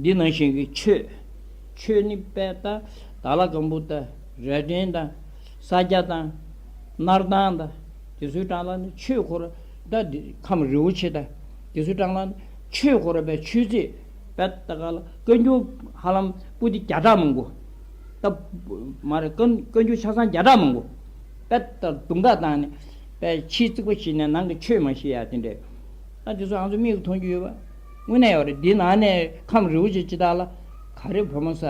འདི་ནང་བཞིན་གྱི་ཆོས། ཆོས་ནི་དཔལ་རྟ་དང་ལ་གང་བུ་དང་རལ་སྟན་དང་ས་སྐྱ་དང་སྣར་ཐང་དང་དེ་ཚོའི་གྲངས་ལ་ནི་ཆོས་འཁོར་རྟ་འདི་ཁམས་རི་བོ་ཆེ་དང་དེ་ཚོའི་གྲངས་ལ་ནི་ཆོས་འཁོར་རྟའི་ཆོས་རྗེ་དཔལ་རྟ་དགའ་ལ་བཀའ་འགྱུར་ཧ་ལམ་པུ་ཏི་བརྒྱ་ཕྲག་མང་པོ། རྟ་མ་རེད་བཀའ་འགྱུར་ཆ་ཚང་བརྒྱ་ཕྲག་མང་པོ། དཔལ་རྟ་དུང་དགའ་དང་ནི་དཔལ་ཕྱིའི་རྩིག་པ་ཞིག་ནས་ནང་གི་ཆོས་མ་ཤེས་ཡ་དེ་འདྲའི་ཨ་དེ་ཚོ་ཨང་ཚོ་མིག་གིས་མཐོང་རྒྱུ་ཡོད་པ། དངོས་གནས་ཡོད་རེད་འདི་ནང་ནས་ཁམས་རི་བོ་ཆེ་སྤྱི་དག་ལ་ག་རེ་བུ་མོ་ས་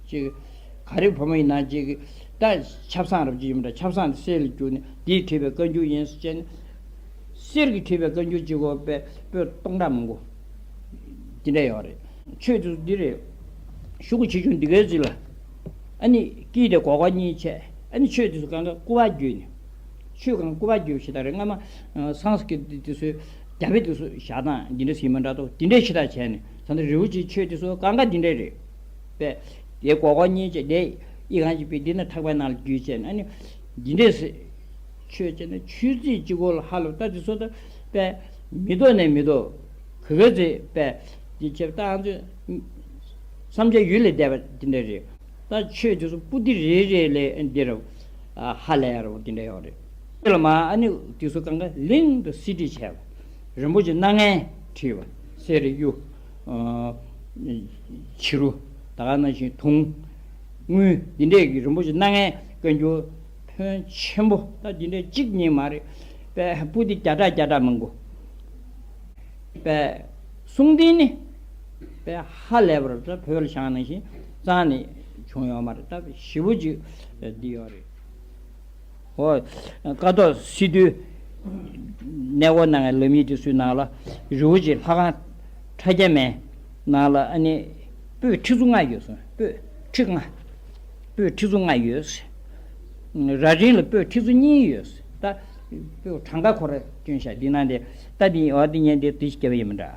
ཅིག་ག་རེ་བུ་མོ་ཡིན་ནང་ཅིག་ད་ཆབ་སངས་རབ་ཅིག་ཡིན་པ་འདྲ་ཆབ་སངས་དེ་སེར་ལ་བསྐྱུར་ནས་འདིས་བྲིས་པའི་བཀའ་འགྱུར་ཡིན་ཟེར་བྱས་ནས་སེར་གྱིས་བྲིས་པའི་བཀའ་འགྱུར་ཅིག་གོ་པས་པོད་སྟོང་ཕྲག་མང་པོ་འདི་འདྲ་ཡོད་རེད། ཆོས་ཚུལ་འདི་རེད། ཤུག་གུ་ཆེ་ཆུང་འདི་གའི་རྩིས་ལ་ཨ་ནི་སྐྱིད་དེ་གོ་གོ་གཉིས་བྱས་ཨ་ནི་ཆོས་འདི་ཚོ་གང་ག་སྐུ་བ་བརྒྱུད་ནས་ཆོས་གང་སྐུ་བ་བརྒྱུད་བྱས་ད་རེས་སྔ་མ་སངས་ཀྱི་འདི་ཚོའི། རྒྱ་བོད་དུ་སོགས་བཞག་སྟངས་འདི་འདྲ་ཟིན་མ་འདྲ་ཏོ་དེ་འདྲའི་ཕྱི་ཐག་བྱས་ནས་ད་ལྟ་རེའུ་ཅིའི་ཆོས་འདི་སོགས་ཀ་འགའ་འདི་འདྲའི་རེད་པས། དེ་གོ་གོ་གཉིས་བྱས་དེ་ཡིག་གང་ཞིག་པས་འདི་ན་ཐག་པའི་ནང་ལ་བརྒྱུས་བྱས་ནས་ཨ་ནི། འདི་འདྲའི་ཟེར། ཆོས་བྱས་ན་ཆོས་ཚིག་གཅིག་གོ་ལ་ཧ་ལོ་ཏཱ་ཚིག་སོགས་ཏོ། པས། མི་ལྡོག་ནས་མི་ལྡོག། གི་གི་ཚིག་པས། འདི་ཆོས་ཏཱའང་ཚོས། བསམ་བྱའི་ཡུལ་ལས་འདས་པ་འདི་འདྲའི་རེད། ཏཱ་ཆོས་འདི་སོགས་པུ་ཏི་རེ་རེ་ལས་འདི་རེད། ཧ་ལས་ཡ་རོ་འདི་འདྲའི་ཡོག་རེད། ཁྱེད་ལ་མ་ཨ་ནི་ཏི་སུ་ཀང་ག་ལིང་དུ་སི་ཏི་བྱས་ལ། རིན་པོ་ཆེ་སྣ་ལྔའི་ཁྲི་བ་སེ་རི་གཡུ། བྱི་རུ། དག་སྣ་བཞིན་དུང། དངུལ། འདི་འདྲས་ཀྱི་རིན་པོ་ཆེ་སྣ་ལྔའི་བཀའ་འགྱུར། ཕོན་ཆེན་པོ་ལྟ་འདི་འདྲས་གཅིག་གཉིས་མ་རེད། པའི་པུ་ཏི་བརྒྱ་ཕྲག་བརྒྱ་ཕྲག་མང་པོ། པའི་གསུང་རྟེན་ནི། པའི་ཧ་ལས་པར་ལྟ་བོད་ལ་ཞང་ནང་བཞིན་གཙང་ནས་བྱུང་ཡོད་མ་རེད་ལྟ་བཞི་པོ་གཅིག་འདི་ཡོད་རེད། ཀ་ཐོག་སི་ཏུའི་གནས་སྐོར་གནང་བའི་ལམ་ཡིག་དེ་སུའི་ནང་ལ་རི་བོ་ཆེའི་ལྷ་ཁང་ཁྲ་རྒྱ་མའི་ནང་ལ་ཨ་ནི་སྤོས་ཁྲི་ཚོ་ལྔ་ཡོད་གསུངས་སྤོས་ཁྲི་ལྔ་སྤོས་ཁྲི་ཚོ་ལྔ་ཡོད། ར་སྒྲེང་ལ་སྤོས་ཁྲི་ཚོ་གཉིས་ཡོད་ད་སྤོས་གྲངས་ཀ་འཁོར་སྐྱོན་ཤ་འདི་ནང་དེ་ད་འདི་འོ་འདི་ཉན་འདི་འདི་ཞིག་སྐྱེ་བ་ཡིན་མི་འདྲ།